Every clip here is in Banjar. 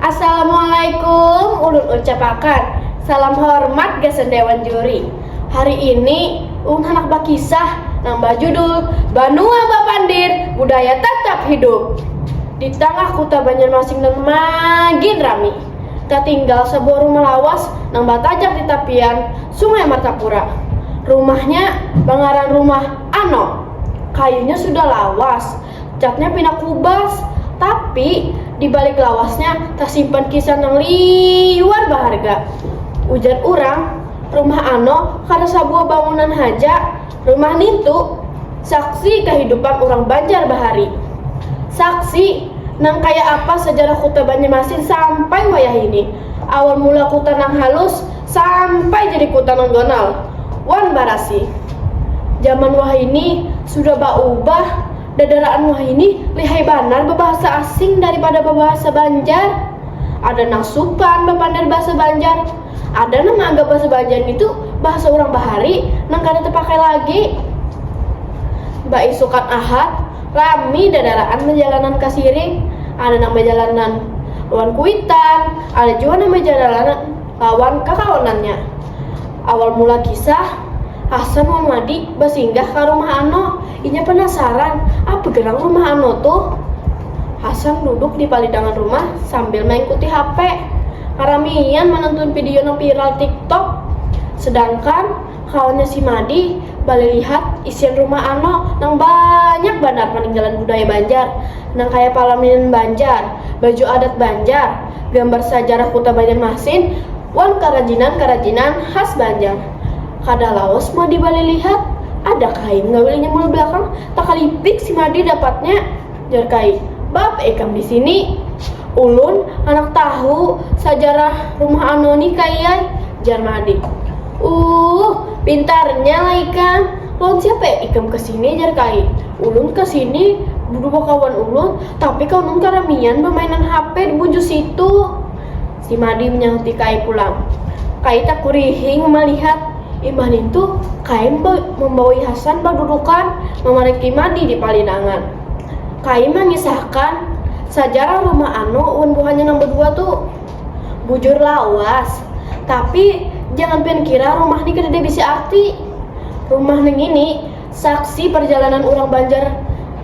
Assalamualaikum ulun ucapakan salam hormat gasan dewan juri. Hari ini ulun handak bakisah nang bajudul Banua Bapandir Budaya Tatap Hidup. Di tangah kuta Banjarmasin nang magin rami, tatinggal sabuah rumah lawas nang batajak di tapian Sungai Martapura. Rumahnya bangaran rumah Ano. Kayunya sudah lawas. catnya pina kubas, tapi di balik lawasnya tasimpan kisah nang liwar baharga. Ujar urang, rumah ano kada sabuah bangunan haja, rumah nintu saksi kahidupan urang Banjar bahari. Saksi nang kaya apa sajarah kuta Banjarmasin sampai wayahini. Awal mula kuta nang halus, sampai jadi kuta nontonal wan barasi jaman wahini sudah baubah dadaraan wahini lihai banar babahasa asing daripada babahasa banjar ada nang supan bapander bahasa banjar ada nang maanggap bahasa banjar ngitu bahasa urang bahari nang kada tapakai lagi baisukan ahad rami dadaraan bajalanan ka siring ada nang bajalanan lawan kuitan ada jua nang bajalanan. lawan kakawanannya. Awal mula kisah, Hasan wan Madi basinggah ka rumah Ano. Inya panasaran, apa gerang rumah Ano tuh? Hasan duduk di palidangan rumah sambil maingkuti HP. Karamian manantun video nang viral TikTok. Sedangkan kawannya si Madi balilihat isian rumah Ano nang banyak banar paninggalan budaya Banjar, nang kaya palaminan Banjar, baju adat Banjar, gambar sajarah kuta Banjarmasin, wan karajinan-karajinan khas Banjar. Kada lawas Madi balik lihat, ada kain ngawilnya mula balakang, takalipik si Madi dapatnya, jar kain, baapa ikam di sini? Ulun handak tahu sajarah rumah anoni Kai ai, jar Madi. Uuh, pintarnya lah ikam, lawan siapa ikam ke sini? jar Kai. Ulun ke sini bedua kawan ulun, Tapi kau nun karamian bamainan hape di bujur situ. Si Madi menyahuti Kai pulang. Kai takurihing malihat imbah nintu Kai membaui Hasan badudukan mamariki Madi di palinangan. Kai mangisahkan sajarah rumah Ano wan buhannya nang badua tu. Bujur lawas, tapi jangan pian kira rumah ni kadada bisi arti. Rumah nangini saksi parjalanan urang Banjar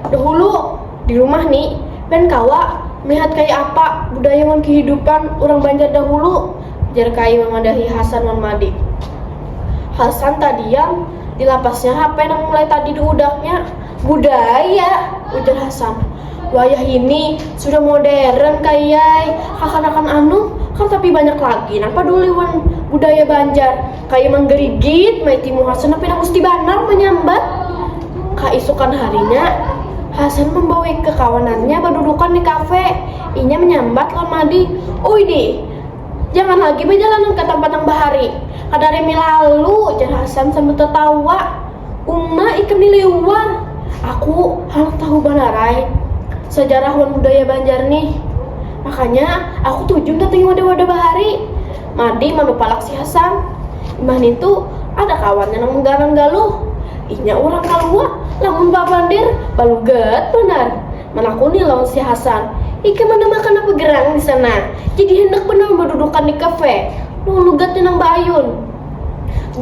dahulu. Di rumah ni, pian kawa melihat kaya apa budaya wan kehidupan urang Banjar dahulu, jar Kai mamadahi Hasan wan Madik. Hasan tadiam, di lapasnya hape nang mulai tadi diudaknya. Budaya! ujar Hasan. Wayah ini sudah modern, Kai ai, kakanakan anuh kada tapi banyak lagi nang paduli wan budaya Banjar. Kaya manggarigit maiti muha Suna pina musti banar manyambat. Kaisukan harinya, Hasan mambawi kakawanannya badudukan di kafe. Inya manyambat lawan Madi, Uy di, jangan lagi bajalanan ka tampat nang bahari. Kada rimi lalu, jar Hasan sambil tatawa. Uma ikam ni liwar. Aku handak tahu banar ai sajarah wan budaya Banjar nih. Makanya aku tuju mandatangi wadah-wadah bahari. Mardi manupalak si Hasan. Imbah nintu, ada kawannya nang mengganang Galuh. Inya urang kaluwa, lamun babandir, balugat banar. Manakuni lawan si Hasan, Ikam manamakan napa gerang di sana? Jadi handak banar badudukan di kafe? Nang lugatnya nang baayun.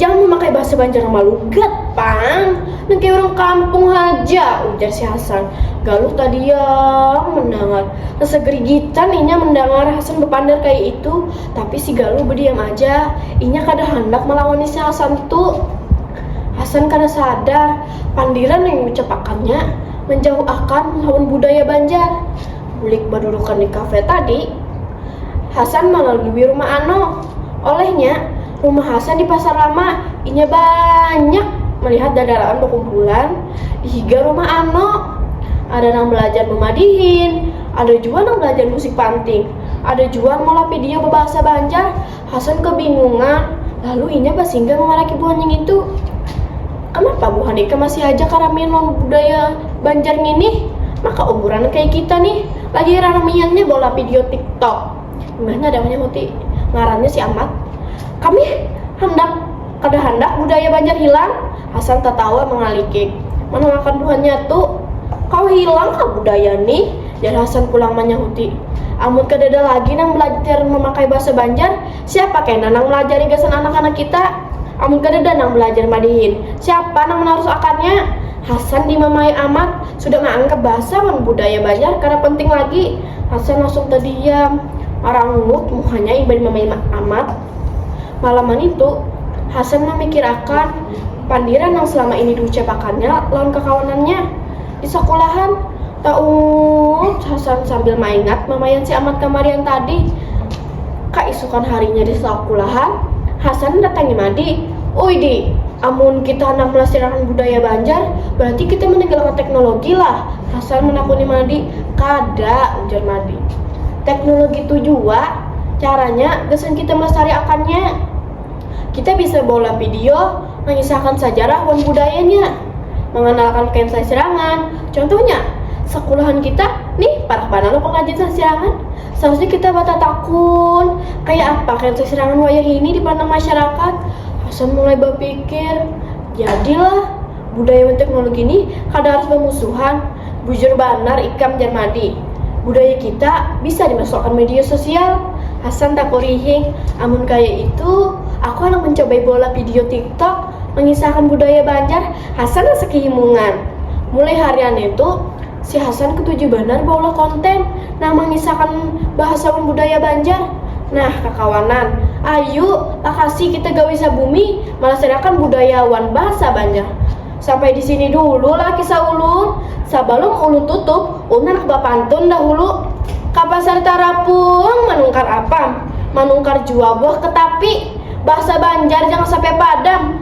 Jangan mamakai bahasa Banjar nang malugat, pang. Nang kaya urang kampung haja, ujar si Hasan. Galuh tadiam mandangar. Sagrigitan inya mandangar Hasan bapandar kaya itu, tapi si Galuh badiam aja. Inya kada handak malawani si Hasan tu. Hasan kada sadar, pandiran nang diucapakannya manjauh akan lawan budaya Banjar. Bulik badudukan di kafe tadi, Hasan malalui rumah Ano. Olehnya. Rumah Hasan di Pasar Lama, inya banyak malihat dandaraan bakumpulan di higa rumah Ano. Ada nang balajar bamadihin, ada jua nang balajar musik panting, ada jua nang meolah pidio babahasa Banjar. Hasan kabingungan, lalu inya basinggah mamaraki buhan ningitu. Kanapa buhan ikam masih haja karamian lawan budaya Banjar nginih? Maka umuran kaya kita nih lagi raramiannya baolah pidio tiktok. Mana ada manyahuti. Ngarannya si Amat. Kami handak kada handak budaya Banjar hilang. Hasan tatawa mangalikik. Manangakan buhannya tu. Kawa hilang kah budaya nih? Jar Hasan pulang manyahuti. Amun kadada lagi nang balajar mamakai bahasa Banjar, siapa kena nang malajari gasan anak-anak kita? Amun kadada nang balajar madihin, siapa nang manarus akannya? Hasan dimamai Amat sudah maanggap bahasa wan budaya Banjar kada penting lagi. Hasan langsung tadiam, marangungut muhanya imbah mamaima Amat. Malaman itu, Hasan mamikirakan pandiran nang salama ini diucapakannya lawan kakawanannya di sakulahan. Taungut Hasan sambil maingat mamayan si Amat kamarian tadi. Kaisukan harinya di sakulahan, Hasan datangi Madi. Uy Di, amun kita handak melastirakan budaya Banjar, berarti kita meninggalkan teknologi lah? Hasan menakuni Madi. Kada, ujar Madi. Teknologi tu jua caranya gasan kita melastariakannya. Kita bisa baulah video, mangisahkan sajarah wan budayanya, manganalkan kain sasirangan. Contohnya, sakulahan kita nih parak banar lo pengrajin sasirangan. Sausnya kita batatakun, kaya apa kah itu serangan wayahini di pandang masyarakat? Hasan mulai bapikir, jadilah, budaya wan teknologi nih kada harus bamusuhan, bujur banar ikam jar Madi, budaya kita bisa dimasukakan media sosial. Hasan takurihing, amun kaya itu aku handak mancobai beulah video tiktok mangisahakan budaya Banjar, Hasan rasa kehimungan. Mulai harian itu. Si Hasan ketuju banar baulah konten nang mangisahakan bahasa wan budaya Banjar. Nah, kakawanan, ayu lakasi kita gawi sabumi malastariakan budaya wan bahasa Banjar. Sampai di sini dulu lah kisah ulun, sabalum ulun tutup ulun handak bapantun dahulu ka Pasar Tarapung manungkar apam, manungkar jua buah ketapi. Bahasa Banjar jangan sampai padam.